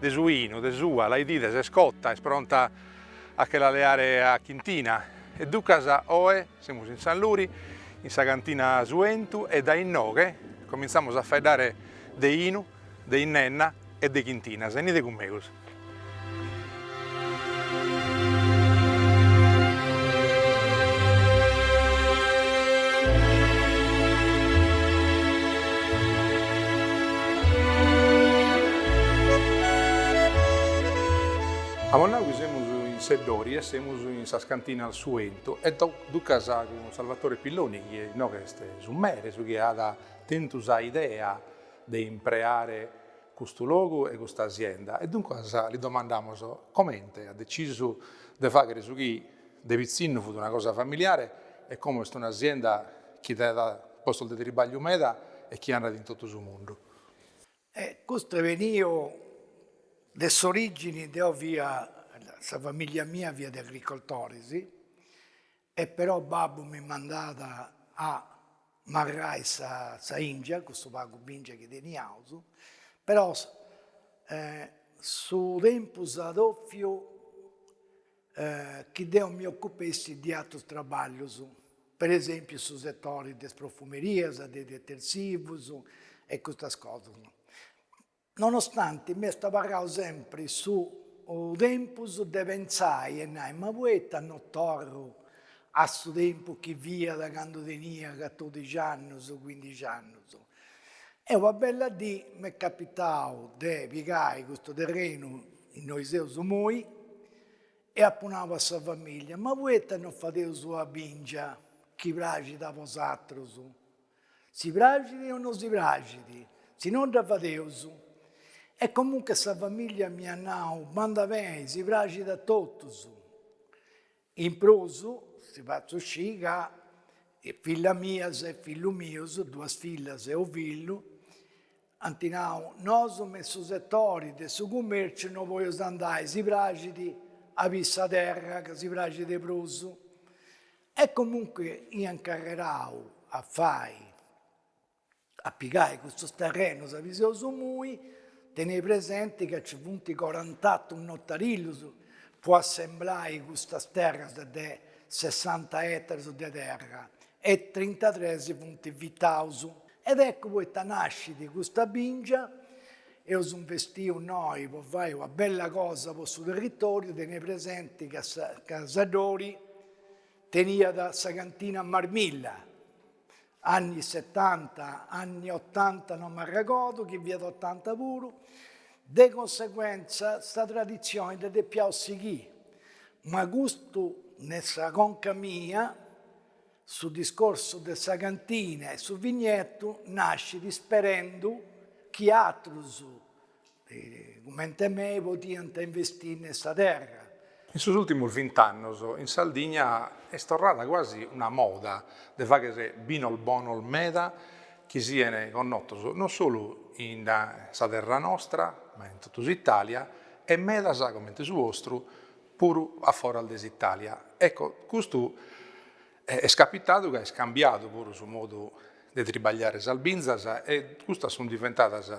De su 'inu, de s'ua, la 'idides est cota, est pronta a che la leare a chintina, e ducas oe semus in San Luri, in sa cantina Su 'Entu, e dae inoghe comintzamus a faeddare de 'inu, de innenna e de chintinas. Enide cun megus. Amus nau chi semus in Seddori e semus in sas cantinas Su 'Entu e ducas cun Salvatore Pilloni chi inoghe est su mere, su chi at tentu sa idea de impreare custu logu e custa asienda e duncas li domandamus comente at decisu de faghere su chi de pitzinnu fut una cosa familiare e como est una asienda chi dat postos de tribagliu meda e chi andat in totu su mundu. Custu est beniu de s'origini, deo fia, sa familia mia fiat de agricoltoris E però babbu mi mandat a marrai sa sa 'ingia, custu pagu bingia chi teniaus, però su tempus at ofiu chi deo mi ocupessi de atrus traballus, per esempiu su settori de is profumerias, de is detersivus e custas cosas. Nonostanti m'est abarrau sempri su tempus de pentzai e nai, ma poita no torru a su tempus chi fiat candu tenia catodixi annus, cuindixi annus. E una bella dì m'est capitau de pigai custu terrenu innoi seus imoi e apu nau a sa familia, ma poita no fadeus una bingia chi praxit a bosatrus, Si praxit o no si praxit, si no dda fadeus. E comunche sa famìllia mi at nau, bandat beni, si praxit a totus. In prus, si fatzu scì ca fillas mias e fillu mius, duas fillas e unu fillu, ant nau, nosu me in su setori de su cumèrciu no boleus andai, si praxit a biri sa terra ca si praxit de prus. E comunque ia incarrerau a fai, a pigai custus terrenus abì seus imoi, tenei presenti ca nci funt corant'atus notarilis po assemblai custas terras de sessanta etarus de terra e trintatres funt vitaus. Ed eccu poita nascit custa bìngia, eus investiu innoi po fai una bella cosa po su territoriu, tenei presenti ca Seddori Teniat sa cantina Marmilla, anni setanta, anni otanta no m'arregordu chi fiat otanta puru, de conseguentza sa traditzioni dda depiaus sighì, ma custu ne sa conca mia, su discorsu de sa cantina e su vignetu nascit isperendu chi atrus cumente mei, podiant investì in sa terra. In sos ùrtimos vint'annos in Sardigna est torrada quasi una moda de fagher binos bonos meda chi sian connotos non solu in sa terra nostra ma in totu s'Itàlia e medas comente su 'ostru puru a foras de s'Itàlia. Ecco, custu Est capitadu ca est cambiadu puru su modu de tribagliare sas binzas e custas sunt diventadas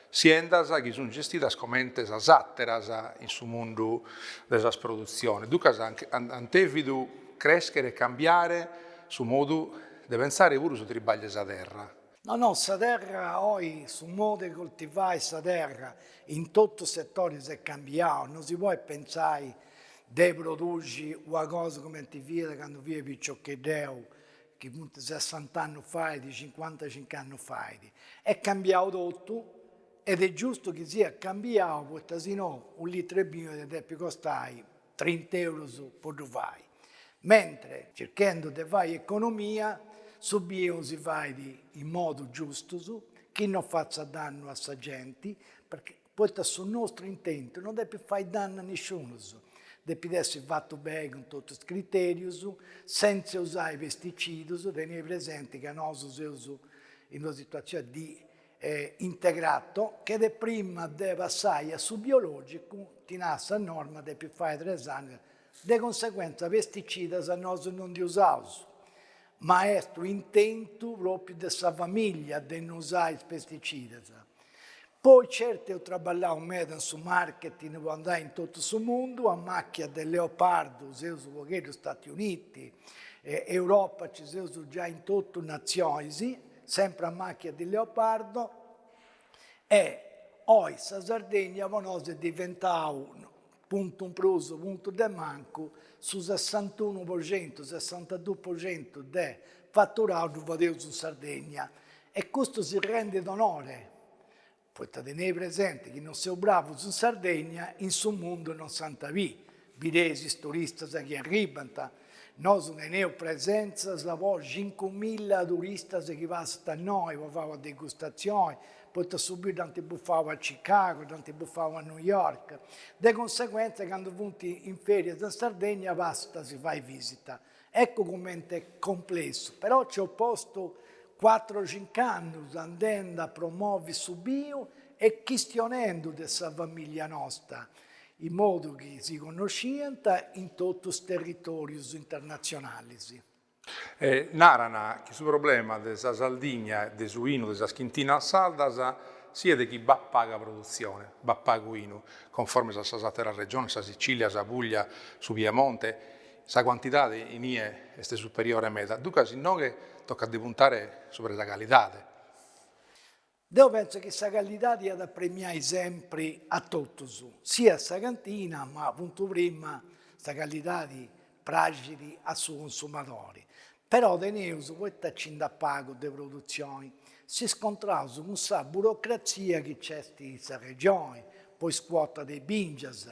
siendas chi sunt gestidas comente sas àteras in su mundu de sas produtziones. Duncas ant dèvidu crèschere e cambiare su modu de pensare puru su tribagliu 'e sa terra. No no sa terra oi su modu 'e coltivai sa terra in totus settoris est cambiau, no si podit pentzai de produxi una cosa cumenti fiat candu fia piciocheddeu chi funt sessant'annus fait cincuantacinc'annus fait, est cambiau totu ed est giustu chi siat cambiau poita si no u' litru 'e binu iat a depi costai trint'eurus po ddu fai, mentre circhendu de fai economia su binu si fait in modu giustu, chi non fatzat dannu a sa genti, perché poita su nostru intentu non depit fai dannu a nisciunus, depit essi fatu beni cun totu is criterius, sentzia usai pesticidus, teniri presenti ca nosu seus in una situazioni di e integrato che prima de passai a su biologicu ti nara sa norma depit fai tres annus de conseguentza pesticidas nosu non ndi usaus ma est u intentu propriu de sa familia de no usai is pesticidas poi certu eu traballau meda in su marketing po andai in totu su mundu a màchia de leopardu seus u pogheddu Stati Uniti e Europa ci seus giai in totu nazionis Sempre a màchia di leopardo. E oi sa Sardegna po nosu est diventau, puntu in prus o puntu de mancu, su sessantunu po centu, sessantaduu po centu de faturau ddu fadeus in Sardegna. E custu si rendit onore Poita tenei presenti chi non seus bravus in Sardegna, in su mundu non s'ant a bì, bideis is turistas chi arribant, nosu teneus presenzas po cincu milla turistas chi passant a innoi po fai una degustatzioni, poita su biu dd'ant bufau a Chicago, dd'ant bufau a New York, de conseguentza candu funt in ferias in Sardegna passant a si fai visita. Eccu comente est complessu, però nci ho postu cuatru o cinc'annus andendi a promovi su biu e chistionendu de sa famìllia nosta, in modu chi si connosciant in totu is territòrius internatzionalis. E naran chi su problema de sa Sardigna e de su 'inu de sas chintinas sardas siat chi b'at paga produtzione, b'at pagu 'inu, conformes a sas àteras regiones, sa Sicìlia, sa Pùglia, su Piemonte, Sa cuantidade in ie est superiore meda, duncas inoghe tocat de puntare subra sa calidade. Deu pentzu chi sa calidadi iat a premiai sempri a totus, siat a sa cantina ma apuntu prima sa calidade praxit a su consumadori. Però teneus, poita nci nd'at pagu de produtzioni, s'iscontraus cun sa burocratzia chi nc'est in sa Regioni po is cuotas de bìngias,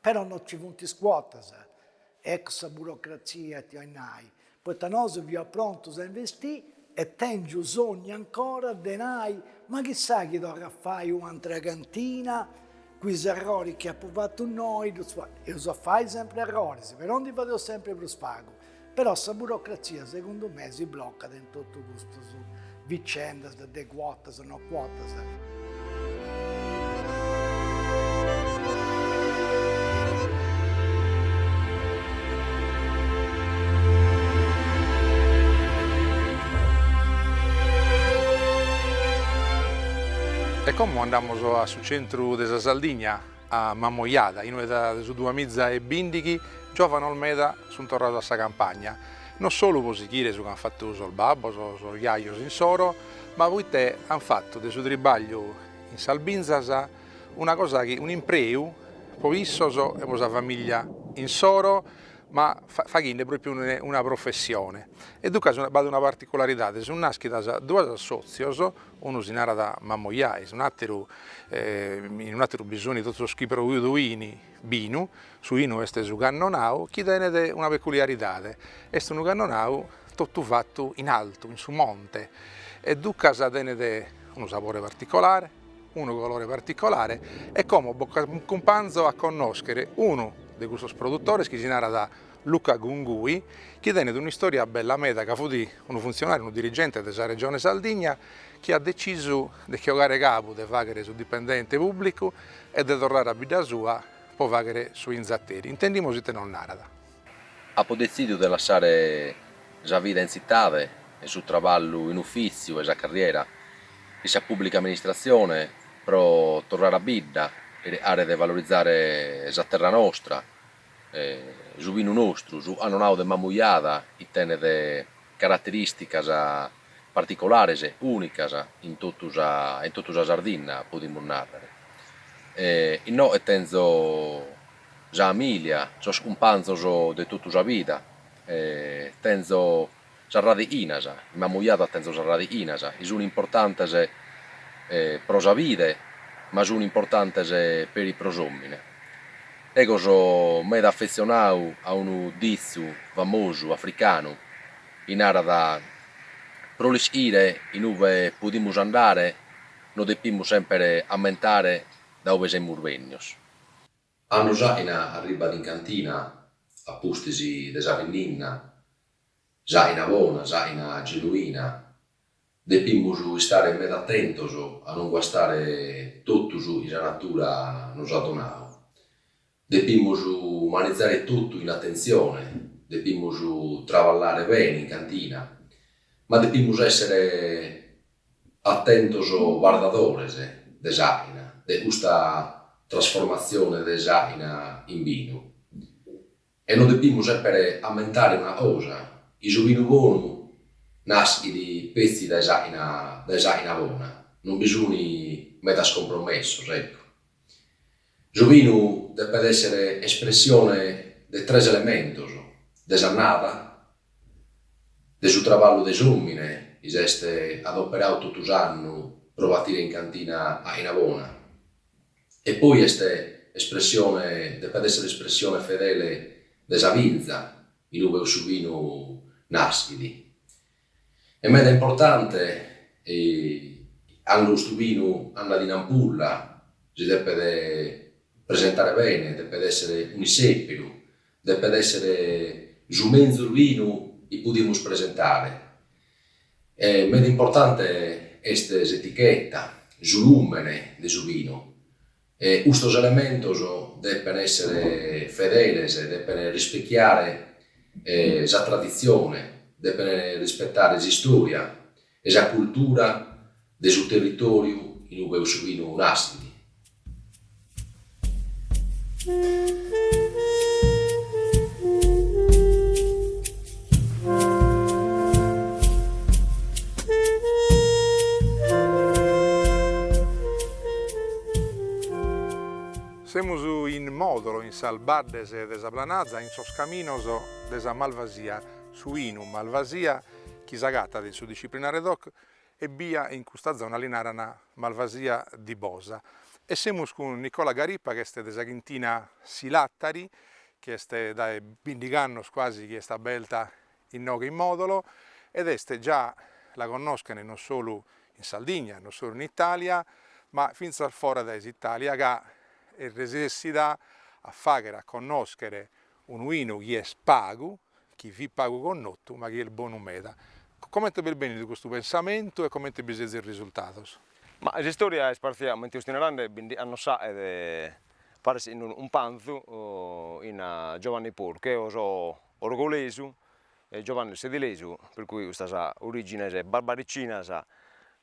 Però no ci funt is cuotas, eccu sa burocratzia ita 'oit nai, poita nosu fiaus prontus a investì e tèngiu sognu ancora de nai, ma chissà chi torrat a fai un'antra cantina cun is erroris chi apu fatu innoi, ddus eus a fai sempri erroris, però ndi fadeus sempri prus pagu. Però sa burocratzia segundu me si blocat in totu custas vicendas de cuotas no cuotas. E como andamus a su centru de sa Sardigna A Mamojada, inue dae su duamiza e bìndighi, giòvanos meda sunt torrados a sa campagna, non solu pro sighire su chi ant fatu sos babbos o sos jajos insoro, ma proite ant fatu de su tribàgliu in sas binzas una cosa chi, un'impreu pro issos e pro sa famìllia insoro, ma faghende pròpiu una professione. E duncas b'at una particularidade, sunt nàschidas duas assòtzios, Unu si narat Mamojà, un'àteru, in un'àteru bi sunt totu sos chi produint binu, su inu est su cannonau chi tenet una peculiaridade, est unu cannonau totu fatu in altu, in su monte, e ducas tenet unu sabore particolare, unu colore particolare e como bos acumpanzo a connòschere unu de custos produtores chi si narat Luca Gungui, chi tenet un'istòria bella meda ca fut unu funtzionàriu, unu dirigente de sa Regione Sardigna chi at detzisu de che 'ogare cabu de fàghere su dipendente pùblicu e de torrare a bidda sua pro fàghere su inzateri. Intendimus ite nos narat. Apo detzìdiu de lassare sa vida in tzitade e su traballu in ufìtziu e sa carriera in sa pùblica amministratzione pro torrare a bidda e chircare de valorizare sa terra nostra, Su binu nostru, su Annonau de Mamujada, chi tenet caraterìsticas particolares, ùnicas in totu sa in totu sa Sardinna, podimus nàrrere. Innoe tenzo sa familia, sos cumpanzos de totu sa vida, tenzo Sas radichinas, in Mamuiada tenzo sas radichinas, chi sun importantes pro sa bide, ma sun importantes peri pro s'omine. Ego so meda affezionau a unu ditzu famosu africanu chi narat, pro l'ischire inube podimus andare nos depimus semper ammentare da ube semus bennios. Cando s'àina arribbat in cantina a pustis de sa binnenna, s'àina bona, s'àina genuina. Depimus istare meda atentos a non guastare totu su chi sa natura nos at donadu. Depimus manizare totu chin atentzione, depimus traballare bene in cantina, ma depimus èssere Atentos bardadores de s'àchina, de custa trasformatzione de s'àchina in binu. E nos depimus semper ammentare una cosa, chi su binu bonu naschit petzi dae s'àchina bona, non bi sunt medas compromessos, ecco. Su binu depet èssere espressione de tres elementos, de s'annada, de su traballu de s'òmine chi s'est adoperadu totu s'annu pro batire in cantina àina bona e poi est espressione, depet èssere espressione fedele de sa binza inube su binu naschet. E meda importante cando custu binu andat in ampulla, si depet presentare bene, depet esser un'issèperu, depet esser su menzus binu chi podimus presentare. E meda importante est s'etichetta, su lumene de su binu, E custos elementos depen èssere fedeles, depen rispechiare sa traditzione, depen rispetare s'istòria e sa cultura de su territòriu in ue cussu binu nascit. Semus in Modolo, in sas baddes de sa Planazza, in sos caminos de sa malvasia, su 'inu, malvasia, chi s'agatat in su disciplinare doc, Ebbia in custa zona li naran Malvasia di Bosa. E semus cun Nicola Garippa chi est de sa chintina Silattari, chi est dae bindigh'annos cuasi chi est aberta inoghe in Modolo ed est già, la connoschen non solu in Sardigna, non solu in Italia, ma fintzas fora dae s'Italia ca est resessida a fagher a connoschere unu 'inu chi est pagu chi fit pagu connotu ma chi est bonu meda. Comente b'est bènnidu custu pensamentu e comente bi sezis risultados? Ma s'istòria est partzia comente custa ina rande bindi annos faet paris in unu pranzu chin Giovanni Porcu eo so orgolesu e Giovanni est sedilesu per cui custas origines barbaricinas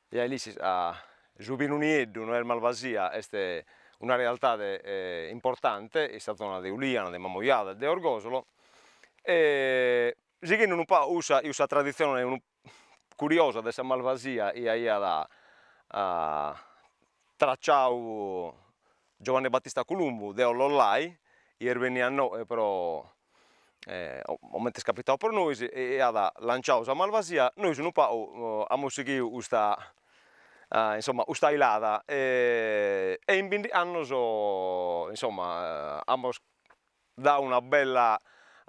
e a Ilissis a su binu nieddu no est malvasia est una realtade importante in sa zona de Uliana de Mamoiada e de Orgosolo e sighendi unu pagu cussa cussa traditzione unu curiosa de sa malvasia chi aiat tracciadu Giovanni Battista Columbu de Olollai, issu beniat inoe pro coment'est capitadu pro nois e aiat lanciadu sa malvasia, nois unu pagu amus sighidu custa insomma custa ilada e e in bindi annos insomma amus dau una bella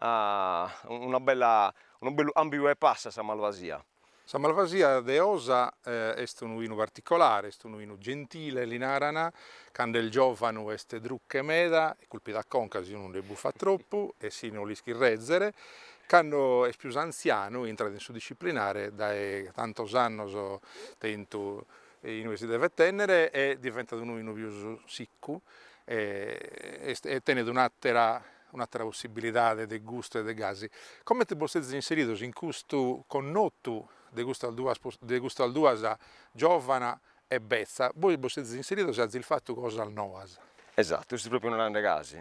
una bella unu bellu cambiu 'e passu a sa malvasia. Sa malvasia de Osa est unu 'inu particolare, est unu 'inu gentile li naran, cando est giòvanu est druche meda, culpit a conca si unu nde bufat tropu e si non l'ischit rèzere, cando est pius antzianu intrat in su disciplinare, dae tantos annos tentu e inue si devet tenner e diventat unu 'inu pius siccu e est e tenet un'attera un'attera possibilidade de gustu e de gasi, comente bos sezis inseridos in custu connottu de custas duas de custas duas giovana e betza, bois bos sezis inseridos e azis fattu cosas noas. Esattu, est propriu unu grande casu,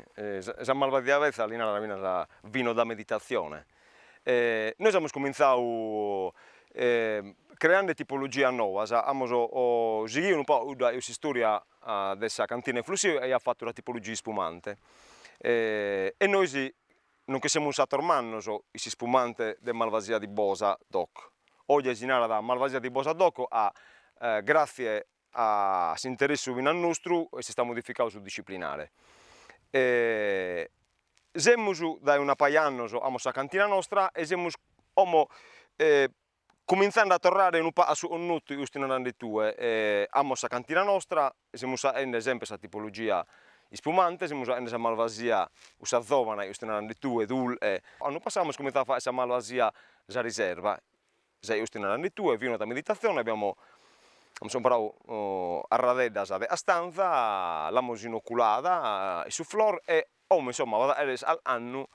sa malvasia betza li naran finas vino da meditazione, Nois amus cumintzadu creande tipologias noas, amus sighidu unu pagu, cudda est s'istòria de sa cantina 'e Flùssio chi aiat fatu una tipologia ispumante e nois nos che semus fatos mannos in s'ispumante de Malvasia di Bosa doc, oje si narat Malvasia di Bosa doc gratzie A s'interessu finas nostru est istadu modificadu su disciplinare. Semus dae una paja 'e annos amos sa cantina nostra e semus como comintzende a torrare unu pagu a su connotu chi fustis narande tue, amos sa cantina nostra, semus aende sempre sa tipologia ispumante, semus aende sa malvasia cussa zovana chi fustis narande tue, dulche. Annu passadu amus comintzadu a faer sa malvasia sa riserva Sa chi fustis narande tue, vino da meditazione, abbiamo amus comporadu carradeddas de castanza, l'amus inoculada in su flor e como insomma at a chèrrer calchi annu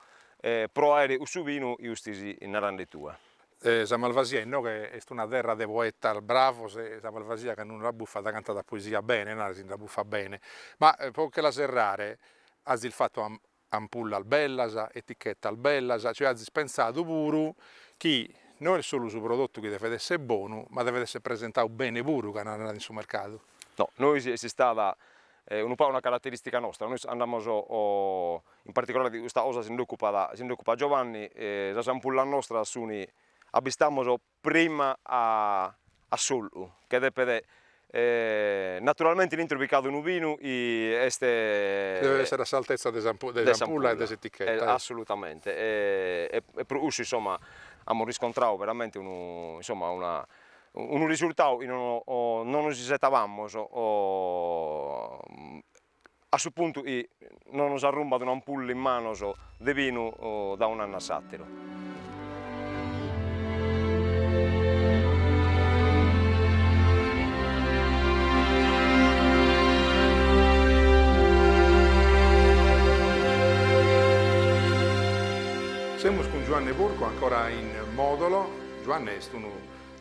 pro aer cussu binu chi fustis narande tue. Sa Malvasia inoghe est una terra de poetas bravos e sa Malvasia cando nde bufat cantat a poesia bene, narat si nde bufat bene, ma pro che la serrare azis fatu ampullas bellas, etichetas bellas, cioè azis pensadu puru chi no est solu su prodotu chi devet esser bonu, ma devet esser presentadu bene puru cando andat in su mercadu. No, nois est istada unu pagu una carateristica nostra, nois andamos in particolare de custa cosa si nd'occupat si nd'occupat Giovanni, sas ampullas nostras sun, abistamos prima a a s'ollu che depet naturalmente in intro bi ch'at unu binu est chi devet essere a s'altezza de de s'ampulla e de s'etichetta assolutamente e e pro cussu insomma amus riscontradu veramente unu insomma una unu risultadu chi no no no nos isettabamus a su puntu chi no nos arrumbat un'ampulla in manos de binu dae un'annu a s'àteru. Semus cun Giuanne Porcu ancora in Mòdolo. Giuanne est unu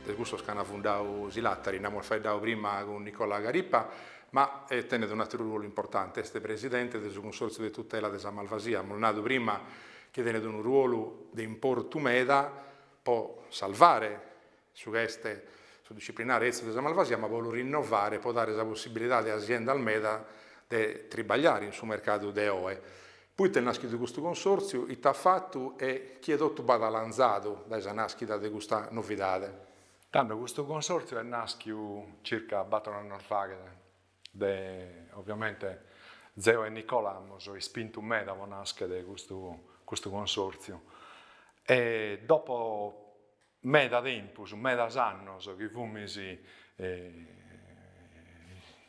de cussos chi an fundadu Silattari, nd'amus faeddadu prima cun Nicola Garippa, Ma tenet un'àteru ruolu importante, est presidente de su Cunsòrtziu de tutela de sa malvasia, amus nadu prima chi tenet unu ruolu de importu meda po salvare su chi est su disciplinare etzu de sa malvasia, ma po lu rinnovare, po dare sa possibilidade a siendas meda de tribagliare in su mercadu de oe. Poita est nàschidu custu Cunsòrtziu, ite at fatu e chie totu b'at alanzadu dae sa nàschida de custa novidade? Tando custu consòrtziu est nàschiu circa bator annos faghet de oviamente zeo e Nicola amus ispintu meda po nàschet custu custu consòrtziu e dopo meda tempus, medas annos chi fumis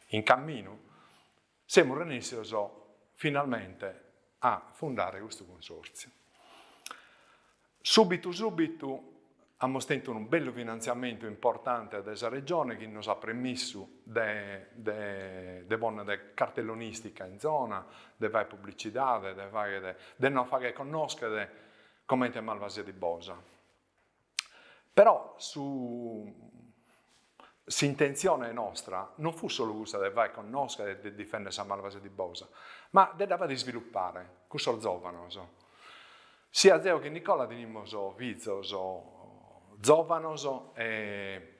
in camminu Semus renèssios finalmente a fundare custu Cunsòrtziu. Subitu subitu amus tentu unu bellu finantziamentu importante de sa Regione chi nos at premissu de de de ponnere cartellonistica in zona, de fagher publicidade, de fagher de nos fagher connoschere comente Malvasia di Bosa. Però su s'intentzione nostra non fut solu cussa de faer connoscher e de difender sa Malvasia di Bosa, ma de dda faer isviluppare cun sos zovanos. Siat zeo che Nicola tenimus fizos zovanos e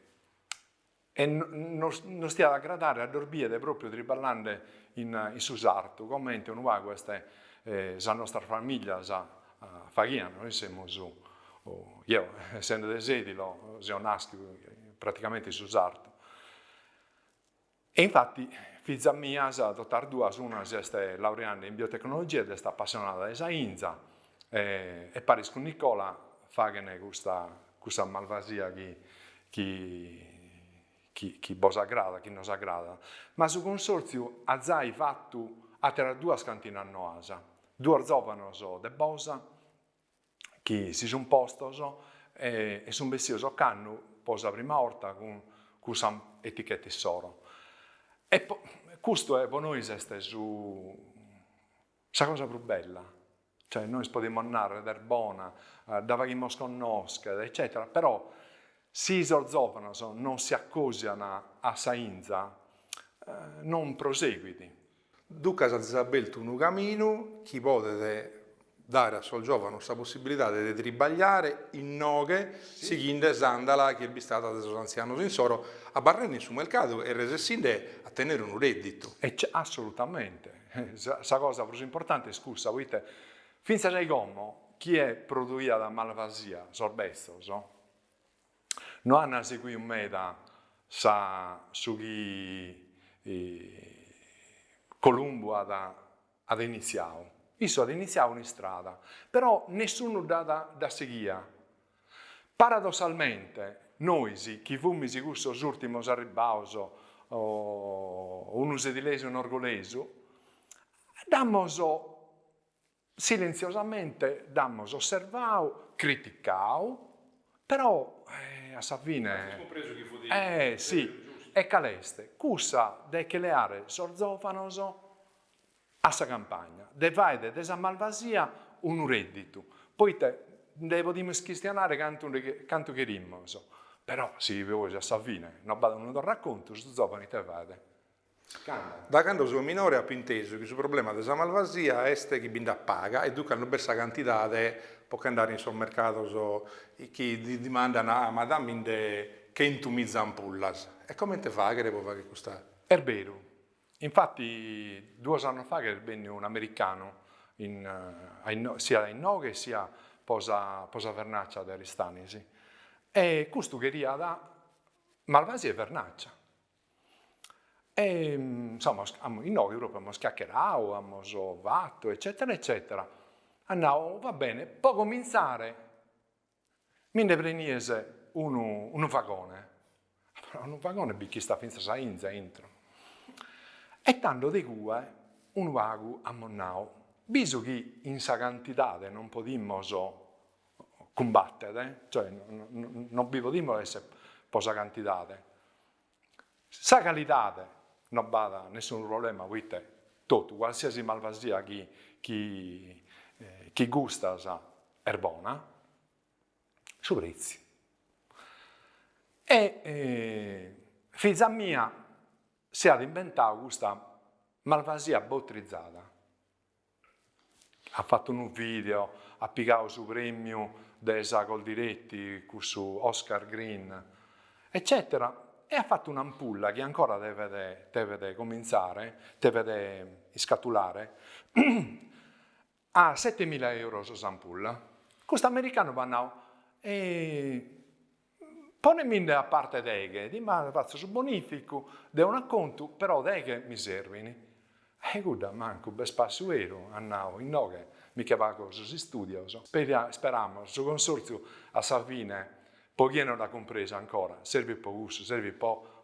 E nos diat a agradare a ddos bider pròpiu triballande in su sartu, comente unu pagu est sas nostras famìlias faghiant. Nois semus, zeo essende de Sèdilo, seu nàschidu praticamente in su sartu. E infati fizas mias totu as duas, una si est laureande in biotecnologia ed est appassionada de sa 'inza, e paris cun Nicola faghene custa custa malvasia chi chi chi bos agradat, chi nos agradat, ma su Consortziu at zai fatu ateras duas cantinas noas, duos zovanos de Bosa chi si sun postos e e sun bessios ocannu po sa prima 'orta cun cun sa etichetta issoro e custu po nois est su Sa cosa prus bella, cioè nois podimus narrer est bona, dda faghimus connoschere eccetera, però si sos zovanos non si accosian a sa inza non proseguit. Ducas as abeltu unu caminu chi podet dare a sos zovanos sa possibilidade de tribagliare innoghe sighinde s'andala chi est bistada de sos anzianos insoro, abarrende in su mercadu e resessinde a tenere unu redditu. Ecce, assolutamente. Sa cosa prus importante est cussa, poite fintzas a como chie produiat malvasia, sos betzos, no ant seguiu meda sa su chi Columbu at at initziau. Issu at initziau un'istrada, però nessunus dd'at dd'at sighia Paradossalmente, nois chi fumis cussos ùrtimos arribbaos, unu sedilesu e unu orgolesu, dd'amus silentziosamente dd'amus osservau, criticau, però a sa fine, eh si, e cale est? Cussa de che leare sos zòvanos a sa campagna, de fàere de sa malvasia unu redditu, poite ndhe podimus chistianare cantu cherimus, però si bois a sa fine no b'at unu torracontu, su zovanu ite faet? Canta. Da cando so minore apo intesu chi su problema de sa malvasia est chi bi nd'at paga e duncas no b'est sa cantidade po ch'andare in sos mercados chi dimandan ah ma dammindhe chentu miza ampullas e comente faghere po fagher custa Est beru, Infati duos annos fa ch'est benniu un'americanu siat inoghe e siat po sa vernàcia de Aristanis e custu cheriat malvasia e vernàcia. E insomma inoghe propriu amus chiacheradu, amus fatu eccetera eccetera, at nau va bene, po comintzare Mi nde prenies unu, unu vagone. Però unu vagone bi ch'istat fintzas sa 'inza a intro. E tando de cue unu pagu amus nau, bisu chi in sa cantidade non podimus cumbàttere, cioè non bi podimus esser po sa cantidade, Sa calidade no b'at nessunu problema poite totu, cualsiasi malvasia chi gustas est bona, su pretziu. E fiza mia si at imbentau custa malvasia botrizada. At fatu unu video, at pigau su premiu de sa Coldiretti, cussu Oscar Green, eccetera, e at fatu un'ampulla chi ancora devet devet comintzare, devet iscatulare, a setemila euros s'ampulla. Custu americanu m'at nau, Poneminde a parte deghe dimane fatzo su bonificu de un'acontu però deghe mi servin. E cudda mancu b'est pàssiu beru, at nau, inoghe mi che pago sos istudios. Speramos su consortziu a sa fine po chie non dd'at cumpresu ancora, servit po cussu, servit po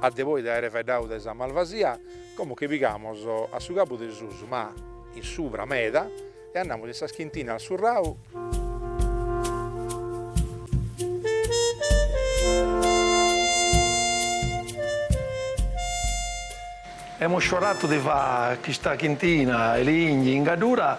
A de poi de aere faeddadu de sa malvasia, como che pigamos a su cabu de susu, ma in subra meda, e andamos in sas chintinas Surrau, Emu sciuaratu di fà chista chintina e li 'igni in Gaddura.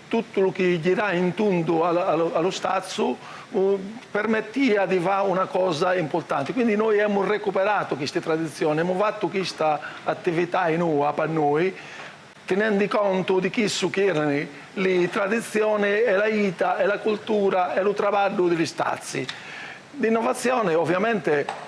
Totu lu chi girai in tundu a a lu stazzu permettia di fa una cosa importanti, quindi noi emu recuperatu chisti tradizioni, emu fattu chista attivitai nua pa noi, tinendi contu di chissu chi erani li tradizioni e la ita e la cultura e lu trabaddu di li stazzi. L'innovazioni ovviamente.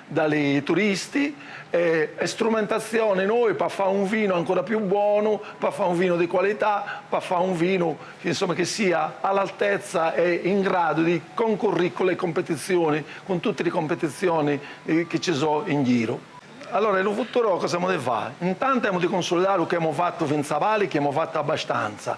Da li turisti e strumentazioni noi pa fà un vinu ancora più bonu, pa fà un vinu di qualità, pa fà un vinu insomma chi sia a l'altezza e in gradu di concurrì cu li competizioni, cun tutti li competizioni chi ci so in giru. Allora lu futuru cosa emu di fà? Intantu emu di cunsulidà lu chi emu fattu finz'abali, chi emu fattu abbastanza,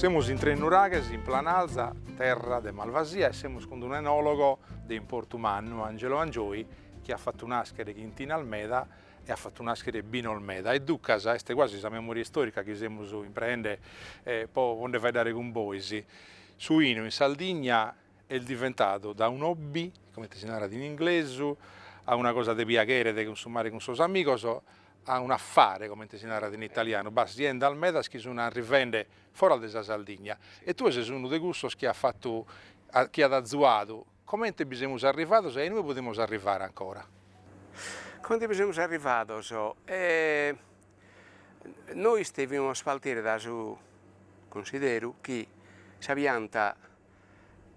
Semus in Tresnuraghes in Planalza, terra de malvasia e semus cun unu enologo de importu mannu, Angelo Angioi, chi at fatu nàschere chintinas meda e at fatu nàschere binos meda e ducas est quasi sa memoria istorica chi semus impreende po nde faeddare cun bois. Su 'inu in Sardigna est diventadu da un hobby, comente si narat in inglesu, a una cosa de piaghere, de cunsumare cun sos amigos, a un affare, comente si narat in italianu, b'at aziendas medas chi sun arrivende fora de sa Sardigna e tue ses unu de cussos chi at fatu, chi at azuadu, comente bi semus arrivados e a inue podimus arrivare ancora? Comente bi semus arrivados? Nois devimus partire dae su cunsideru chi sa pianta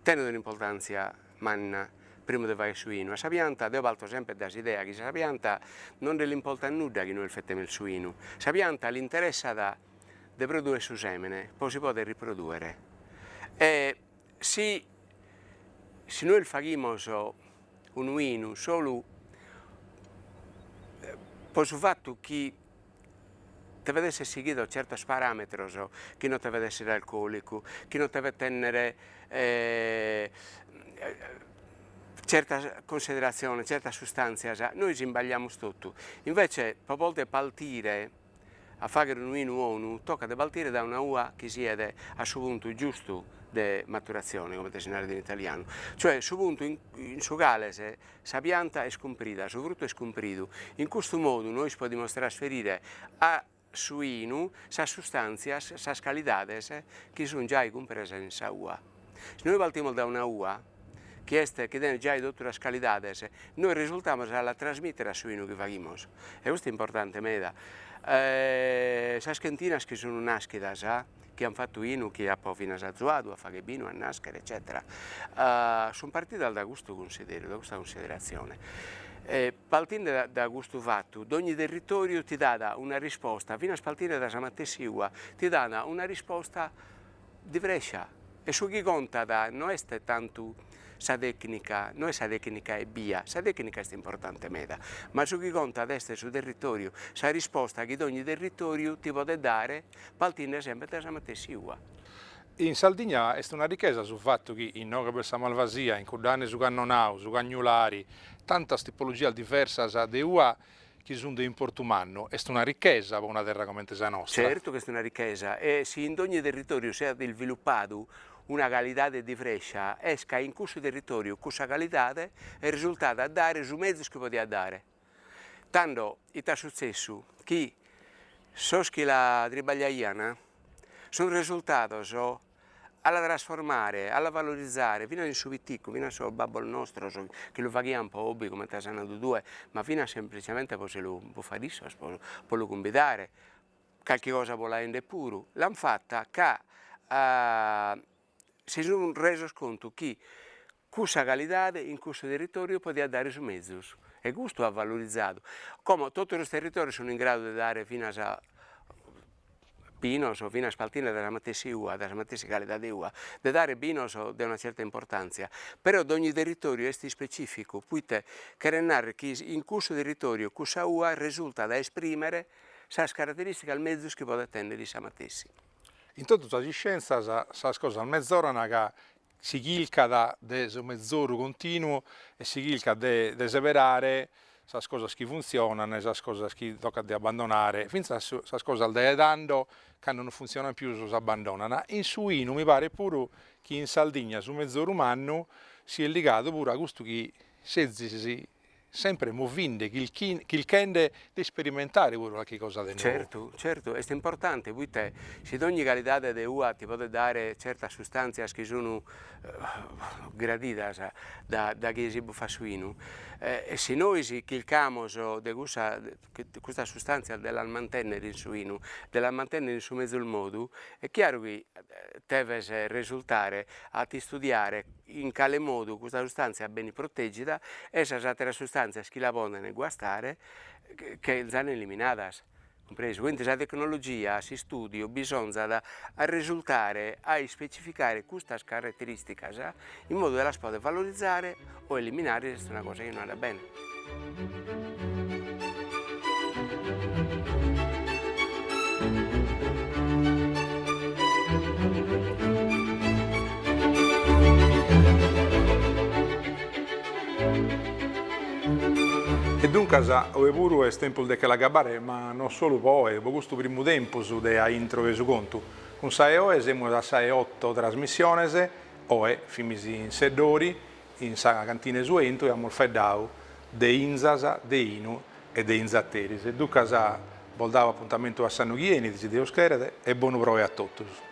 tenet un'importàntzia manna primu de faghere su 'inu, a sa pianta, deo parto semper dae s'idea chi sa pianta non l'importat nudda chi nois fetemus su 'inu, sa pianta l'interessat de produere su sèmene po si pòdere riprodùere e si si nois faghimus unu 'inu solu po su fattu chi devet esser sighidos zertos parametros, chi non devet esser alcolicu, chi non devet tenner zertas consideraziones, zertas sustanzias, nois isbagliamus totu, invece po poder partire A fàghere unu inu onu tocat de partire dae una ua chi siat a su puntu giustu de maturatzione, comente si narat in italianu, cioè su puntu in su cale sa pianta est cumprida, su frutu est cumpridu. In custu modu nois podimus trasferire a su inu sas sustàntzias, sas calidades chi sunt giai cumpresas in sa ua. Si nois partimus dae una ua, chi est chi tenet giai totu sas calidades, nois resultamus a la trasmìtere a su 'inu chi faghimus, e custu est importante meda. Sas chentinas chi sun nàschidas, chi an fatu 'inu, chi apo finas azuadu a fagher binu, a nàschere eccètera, sun partidas dae custu cunsideru, dae custa cunsideratzione. Partende da da custu fatu, dogni territòriu ti dat una risposta, finas partende dae sa matessi ua, ti dat una risposta diversa. E su chi contat no est tantu sa tècnica, no est sa tècnica ebbia, sa tècnica est importante meda, ma su chi contat est su territòriu, sa risposta chi dogni territòriu ti podet dare partinde semper dae sa matessi ua. In Sardigna est una richesa su fatu chi, inoghe b'est sa malvasia, in cuddane su cannonau, su cagnulari, tantas tipologias diversas de ua chi sunt de importu mannu, est una richesa po una terra comente sa nostra. Certu ch'est una richesa e si in dogni territòriu si at isvilupadu una calidade diversa, est ca in cussu territòriu cussa calidade est resultada a dare su mezus chi podiat dare. Tando ita sutzessu, chi sos chi la tribagliaiant sunt resultados a la trasformare, a la valorizare finas in su piticcu, finas sos babbos nostros chi lu faghian po hobby comente as nadu tue, ma finas semplicemente po si lu po fagher issos po lu cumbidare, calchi cosa po la 'endere puru, l'an fatta ca si sun resos contu chi Cussa calidade in cussu territòriu podiat dare su mezus e custu at valorizadu, como totu sos territòrius sunt in gradu de dare finas binos o finas paltinde dae sa matessi ua, de sa matessi calidade ua, de dare binos de una certa importantzia, però dogni territòriu est ispecificu, poite cheret narrer chi in cussu territòriu cussa ua resultat a esprimere sas carateristicas mezus chi podet tenner issa matessi. In totu sas iscienzas sas cosas mezoran ca si chilcat de su mezoru continuu e si chilcat de de seberare sas cosas chi funtzionant e sas cosas chi tocat de abbandonare, fintzas sas cosas de tando cando non funtzionant pius s'abbandonant, in su 'inu mi paret puru chi in Sardigna su mezoru mannu si est ligadu puru a custu chi sezis sempre movinde, chilchende de esperimentare puru calchi cosa de nou. Certu, certu, est importante poita si dogni calidade de ua ti podet dare certas sustàntzias chi sunu gradidas da chie si bufat su 'inu, si nois chilcamus de cussa custas sustàntzias de las mantènnere in su 'inu, de las mantènnere in su mezus modu, est chiaru chi deves resurtare a t'istudiare in cale modu custa sustàntzia benit protègida e sas àteras sustàntzias chi la podent guastare chenzan eliminadas, cumpresu, quindi sa tecnologia, s'istùdiu bisonzat a resurtare a ispecificare custas caraterìsticas in modu de las poder valorizare o eliminare est una cosa chi non andat bene. E duncas oe puru est tempus de che l'agabbare, ma non solu pro oe, pro custu primu tempus de a intro 'e su contu. Cun sa 'e oe semus a sa 'e oto trasmissiones, Oe fimis in Seddori, in sa cantina 'e su 'entu e amus faeddadu de inzas, de 'inu e de inzateris. E duncas bos dau apuntamentu a s'annu chi 'enit, si Deus cheret, e bonu proe a totus.